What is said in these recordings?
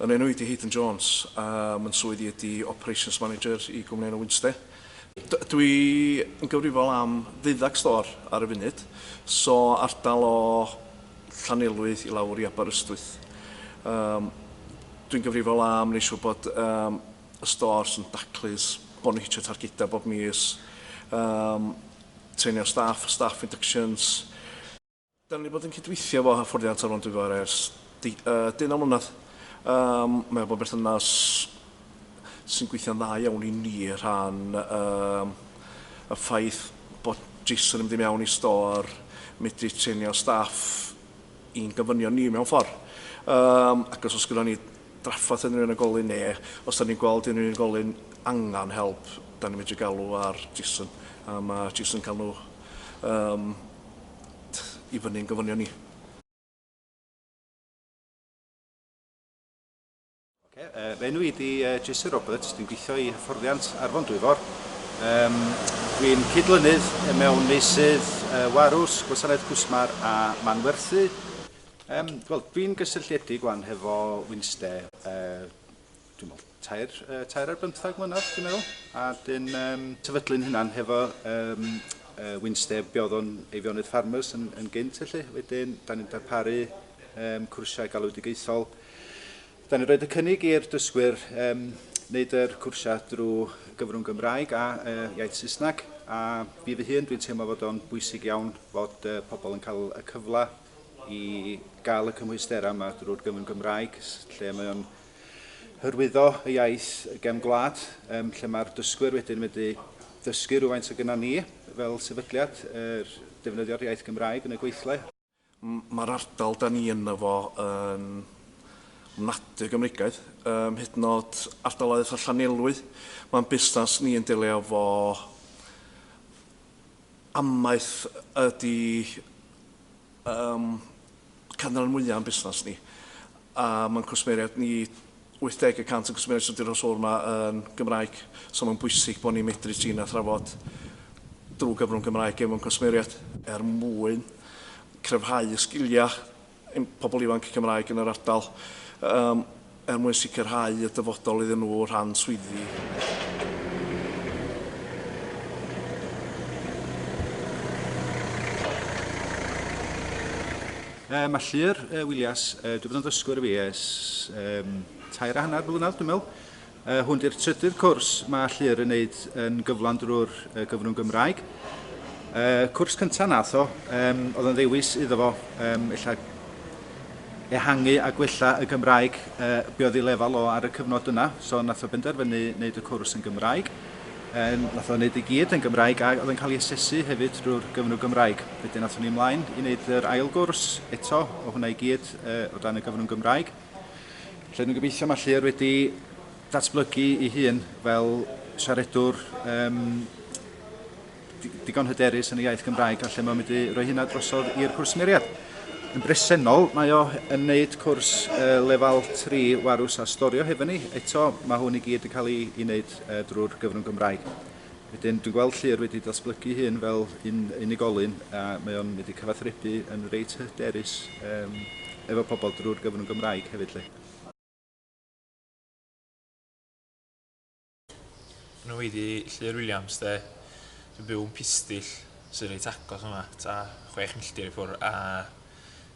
Yn enw i ydy Haydn Jones, a myn swydd i ydy Operations Manager i gwmni enw Winster. Dw i yn gyfrifol am ddeuddag stôr ar y funud, so ardal o Llanelwy i lawr i Aberystwyth. Yym dw i'n gyfrifol am neu siwr bod yym y stôrs yn daclus, bod nhw'n hitio targedau bob mis, yym treinio staff, staff inductions, Dan ni wedi bod yn cydweithio efo Hyfforddiant Talwrn Dwyfor ers deunaw mlynedd. Mae o bod yn berthynas sy'n gweithio'n dda iawn i ni rhan y ffaith bod JISC yn mynd i mewn i stor, medru trenio staff i'n gofynion ni mewn ffordd. Ac os oes gyda ni drafferth yn yr unigolyn neu os da ni'n gweld yn yr unigolyn angen help, da ni'n medru galw ar JISC. Mae JISC yn cael nhw Tch i fyny'n gofynion ni. Oce, yy fy enw i ydi yy Jason Roberts, dwi'n gweithio i hyfforddiant Arfon Dwyfor. Yym dwi'n cydlynydd mewn meysydd yy warws, gwasanaeth cwsmar a manwerthu. Yym wel dwi'n gysylltiedig wan hefo Wynste yy dwi'n meddwl, tair, uh, tair ar bymthag mlynedd, dwi'n meddwl. A dyn um, tyfydlu'n hynna'n hefo um, uh, Winsteb bioddon Eifionydd Farmers yn, yn gynt, felly. Wedyn, da ni'n darparu um, cwrsiau galwedigaethol. Da ni'n rhoi y cynnig i'r dysgwyr um, wneud yr cwrsiau drwy gyfrwng Gymraeg a uh, iaith Saesneg. A fi fy hun, dwi'n teimlo fod o'n bwysig iawn fod uh, pobl yn cael y cyfle i gael y cymhwysterau yma drwy'r gyfrwng Gymraeg, lle mae o'n hyrwyddo y iaith gefn gwlad, um, lle mae'r dysgwyr wedyn wedi dysgu rhywfaint o gyda ni fel sefydliad, er, defnyddio'r iaith Gymraeg yn y gweithle. Mae'r ardal da ni yna fo yn ofnadwy o Gymreigaidd, um, hyd yn oed ardaloedd eitha Llanelwy. Mae'n busnes ni yn delio fo amaeth ydy ym canran mwya' o'n busnas ni, a ma'n cwsmeriaid ni, 80 y cant o'n cwsmeriaid sydd 'di rhoi sylw yma yn Gymraeg, so ma'n bwysig bo' ni'n medru trin a thrafod drw gyfrwng Gymraeg efo'n cwsmeriaid, er mwyn cryfhau y sgilia' ein pobl ifanc Cymraeg yn yr ardal, yym. er mwyn sicrhau y dyfodol iddyn nhw o rhan swyddi. Yy ma Llŷr yy Willias yy dwi fod yn ddysgwr fi ers yym tair a hanner blynedd dwi'n meddwl. Yy hwn di'r trydydd cwrs ma Llŷr yn neud yn gyflawn drwy'r yy gyfrwng Gymraeg. Yy cwrs cynta nath o yym o'dd yn ddewis iddo fo yym ella ehangu a gwella y Gymraeg, yy be oedd ei lefel o ar y cyfnod yna, so wnaeth o benderfynu wneud y cwrs yn Gymraeg, um, wnaeth o wneud i gyd yn Gymraeg a oedd yn cael ei asesu hefyd drwy'r gyfnw Gymraeg. Wedyn wnaethon ni ymlaen i wneud yr ail gwrs eto o hwnna i gyd uh, o dan y gyfnw Gymraeg. Felly dwi'n gobeithio mae Llyr wedi datblygu ei hun fel siaredwr um, digon hyderus yn y iaith Gymraeg a lle mae'n mynd i roi hynna drosodd i'r cwsmeriaid. Yn bresennol, mae o yn wneud cwrs uh, lefel 3 warws a storio hefo ni. Eto, mae hwn i gyd yn cael ei, ei wneud uh, drwy'r gyfrwng Gymraeg. Wedyn, dwi'n gweld Llyr wedi datblygu hyn fel un unigolyn a mae o'n wedi cyfathrebu yn reit hyderus um, efo pobl drwy'r gyfrwng Gymraeg hefyd. Lle. Nhw ydi Llŷr Williams 'de. Dwi'n byw yn Pistyll sydd reit agos yma, ta chwech milltir i ffwr a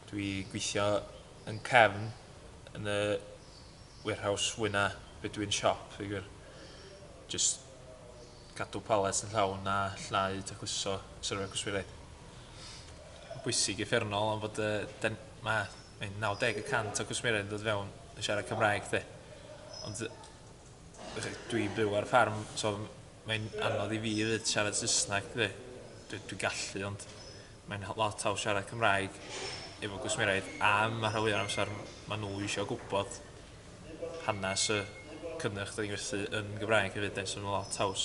dwi gweithio yn cefn yn y warehouse fwyna be' dwi'n siop i gwir. Jyst cadw palets yn llawn a llnau tacluso syrfa cwsmeriaid. Ma'n bwysig i ffermnol am fod yy 'den ma' mae 90 y cant o cwsmeriaid yn dod fewn yn siarad Cymraeg 'de. Ond yy Dwi'n byw ar ffarm so mae'n anodd i fi 'fyd siarad Saesneg dwi. Dwi dwi'n gallu ond mae'n ho- lot haws siarad Cymraeg efo gwsmeriaid a ma' rhan fwya o'r amsar ma' n'w isio gwbod hanas y cynnyrch 'dan ni'n werthu yn Gymraeg hefyd 'de so ma' lot haws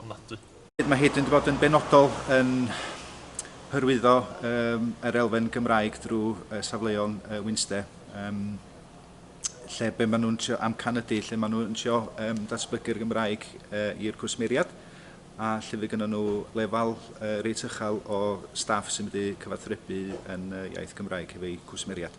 ofnadwy. Mae hyd yn bod yn benodol yn hyrwyddo um, yr elfen Gymraeg drwy uh, safleon uh, Winster. Um, lle be maen nhw'n trio amcan ydy, lle maen nhw'n trio um, datblygu'r Gymraeg uh, i'r cwsmeriad a lle fe gynnyn nhw lefel uh, reit uchel o staff sy'n mynd i cyfathrebu yn uh, iaith Gymraeg hefo'u cwsmeriad.